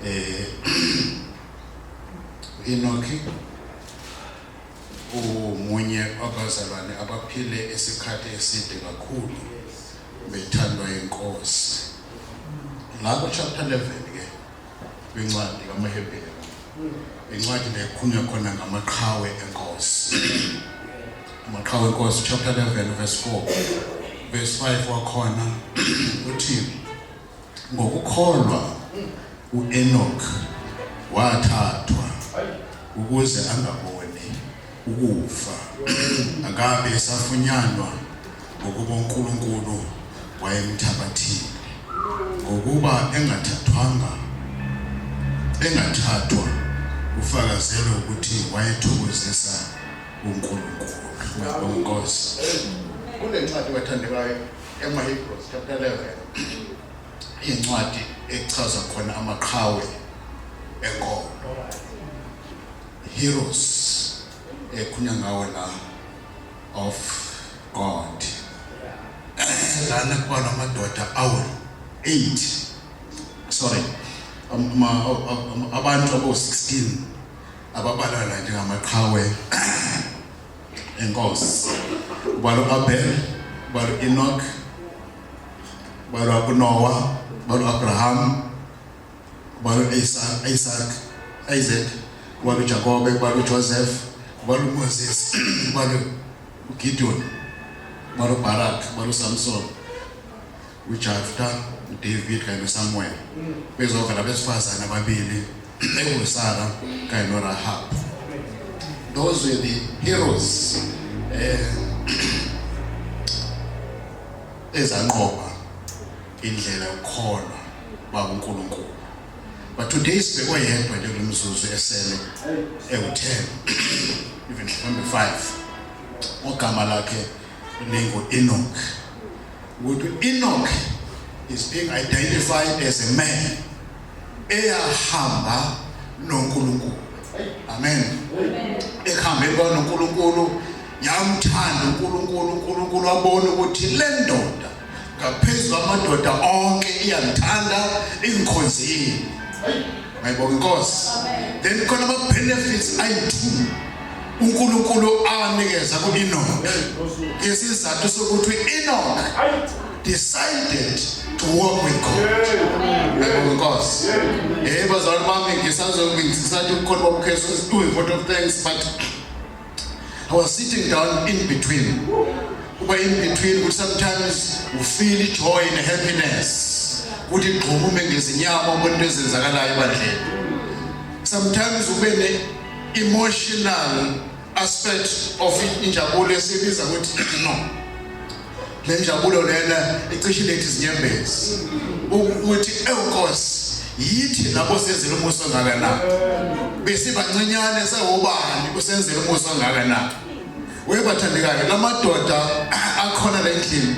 eh Enoki umunye wabazalwane abaphile isikhathi eside kakhulu bethandwa inkosi lapho chapter 11 ke kwincwadi kaMahebheri incwadi nekhunywa khona ngamaqhawe enkosi amaqhawe enkosi chapter 11 verse 4 verse 5 wakhona uthi Ngokukholwa uEnok wathathwa ukuze angaboni ukufa akabe esafunyanwa ngokuba uNkulunkulu wayemthabathile ngokuba engathathwanga engathathwa ufakazelwe ukuthi wayethokozisa uNkulunkulu. Ngiyabonga Nkosi. Kunencwadi bathandekayo EmaHebrews chapter 11 incwadi echaza khona amaqhawe enkomo heroes ekhunya ngawo la of God lana kubona amadoda awu 8 sorry abantu abo 16 ababalala njengamaqhawe Enkosi. Ubalo Abel, ubalo Enoch, ubalo uNoah, ubalo Abraham, ubalo Isaac, Isaac, Isaac, ubalo Jacob, ubalo Joseph, ubalo Moses, ubalo Gideon, ubalo Barak, ubalo Samson. uJafta, uDavid kanye noSamuel bezova labesifazane ababili ekuSara kanye noRahab. Those were the heroes eh ezanqoba indlela yokukholwa bakuNkulunkulu. But today sibekwe yedwa nje kulomzuzu esele ewu10 even number 5 ogama lakhe ningo Enoch ukuthi Enoch is being identified as a man eyahamba noNkulunkulu amen ehambe kwanoNkulunkulu yamthanda uNkulunkulu uNkulunkulu wabona ukuthi le ndoda ngaphezulu amadoda onke iyamthanda ingikhonzile Ngayibonga inkosi. Then khona ama benefits ayi-2 uNkulunkulu awanikeza ku-Enoch. Isizathu sokuthi u-Enoch decided to walk with God. Ngayibonga inkosi. Eh bazalwane bami ngisazobe ngisathi ukhona bobukhesi uyi vote of thanks but I was sitting down in between. Uba in between ukuthi sometimes u feel joy and happiness. Ukuthi igxumume ngezinyama ubona into ezenzakalayo ebandleni. Sometimes ube ne emotional aspect of injabulo esibiza ukuthi no le njabulo lena icishe lethi izinyembezi ukuthi ewuNkosi yithi lapho senzile umusa ongaka na besibancenyane sewubani usenzile umusa ongaka na webathandekayo lamadoda akhona la endlini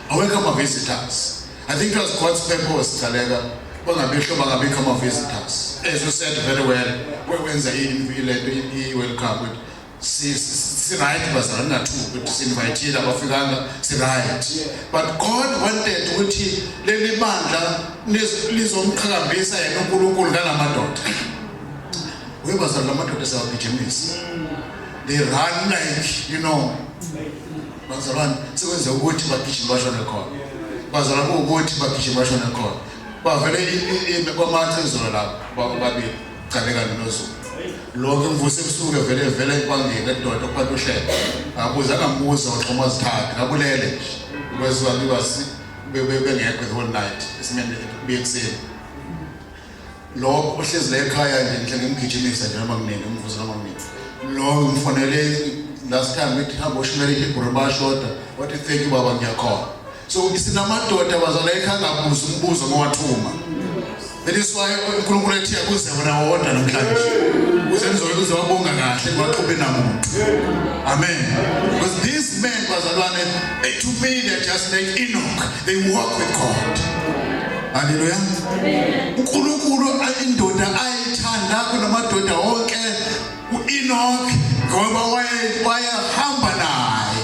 awekho ama-visitors i think it was god's purpose thaleka bangabisho bangabikho ama-visitors as you said very well wenza ilento i-world cup siright bazalwane nathuka ukuthi sinvayithile abafikanga siright but god wanted ukuthi leli bandla lizomqhakambisa yena unkulunkulu ngalamadoda we bazalwane lamadoda siyawagijimisa they run like you know bazalwane sekwenze ukuthi bagijima bashone khona bazalwane kuwukuthi bagijima bashone khona bavele kwamathi izolo lapho babili Chaleka noZulu. Lonke mvuse kusuke vele vele ekwangeni edodo kwakushela. Abuza ngambuza uxhoma zithatha ngabulele. Kwezwa liwasi bebe bengekho the whole night. Isimene kuyekuseni. Lo ohlezi la ekhaya nje ngihle ngimgijimisa nje noma kunini umvuzo noma kunini. Lo ngifonele last time ngithi hamba ushimele ibhuru bashoda. Wathi thank you baba ngiyakhona. So sinamadoda bazala ekhangabuza umbuzo ngowathuma. That is why uNkulunkulu ethi akuze wena wodwa namhlanje. Uze nizobe uze wabonga kahle ngwaqhube namuntu. Amen. Because these men bazalwane eh, to me they're just like Enoch. They walk with God. Haleluya. uNkulunkulu indoda ayithanda kunamadoda wonke uEnoch ngoba wayehamba naye.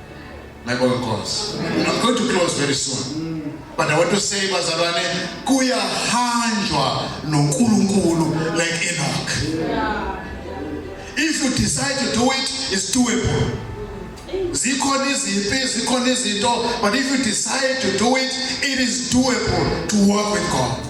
Ngiyabonga Nkosi. I'm going to close very soon. But I want to say bazalwane kuyahanjwa noNkulunkulu like Enoch. If you decide to do it, it's doable. zikhona izimpi zikhona izinto but if you decide to do it it is doable to work with God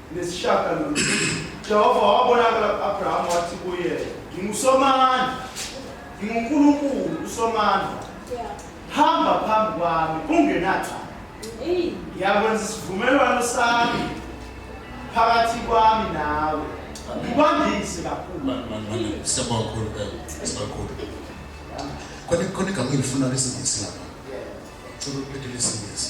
Nesishagalolunye, Jehova wabonakala ku-Abrahama wathi kuye, Ngingusomandla, nginguNkulunkulu usomandla. Hamba phambi kwami ungenacala. Ngiyakwenza isivumelwano sami phakathi kwami nawe. Ngikwandise kakhulu. Siyabonga kakhulu, eh, sibakhulu. Khona khona igama engilifuna lesingisi lapha. Cela ukuphethe lesingisi.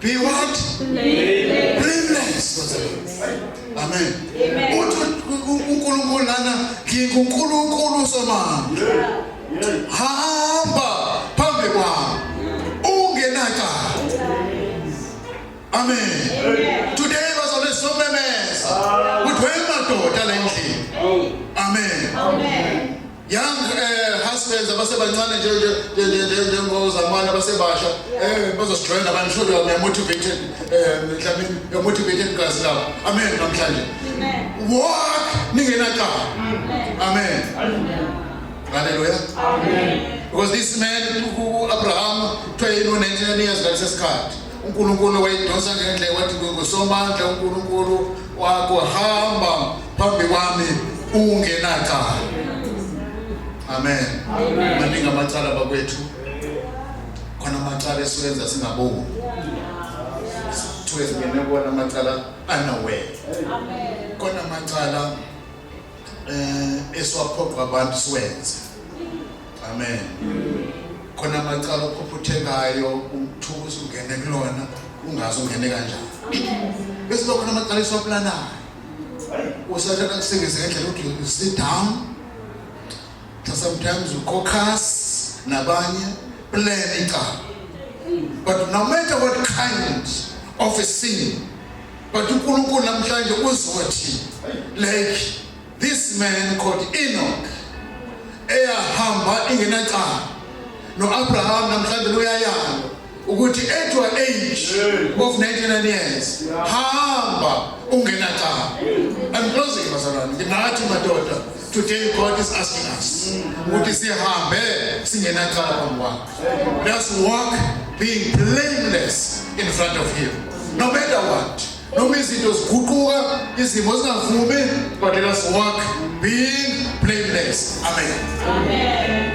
Be what? Blameless. Amen. uNkulunkulu lana nginguNkulunkulu somama. Hamba phambi kwami. Ungenaka. Amen. Today was on so memesa. Kudwe madoda lendlini. Amen. Amen. young uh, husbands abasebancane njengozamane abasebasha um bazosidrenda abantu sure you're motivated um mhlawumbe you're motivated gazi labo amen namhlanje walk ningenacala amen haleluya because this man uabraham kuthiwa yini u-99 years ngalesesikhathi uNkulunkulu wayidonsa ngendle wathi ngosomandla uNkulunkulu wakho hamba phambi kwami ungenacala amen maningi amacala bakwethu khona amacala esiwenza singaboni sithiwe singene kuwona amacala anawena khona amacala um esiwaphoqa abantu siwenze Amen. Khona amacala ophuphuthekayo umthuko usungene kulona ungazi ungene kanjani. Bese khona amacala esiwaplanayo. Usathana kusebenzisa ngendlela ukuthi you sit down. Sometimes you caucus nabanye plan icala. But no matter what kind of a sin, but uNkulunkulu namhlanje uzothi like This man called Enoch eyahamba ingenacala noAbraham namhlanje uyayala ukuthi at your age of 99 years hamba ungenacala I'm closing bazalwane nginathi madoda today God is asking us ukuthi sihambe singenacala phambi kwakhe let's walk being blameless in front of him no matter what noma izinto ziguquka izimo zingavumi but let us walk being blameless amen amen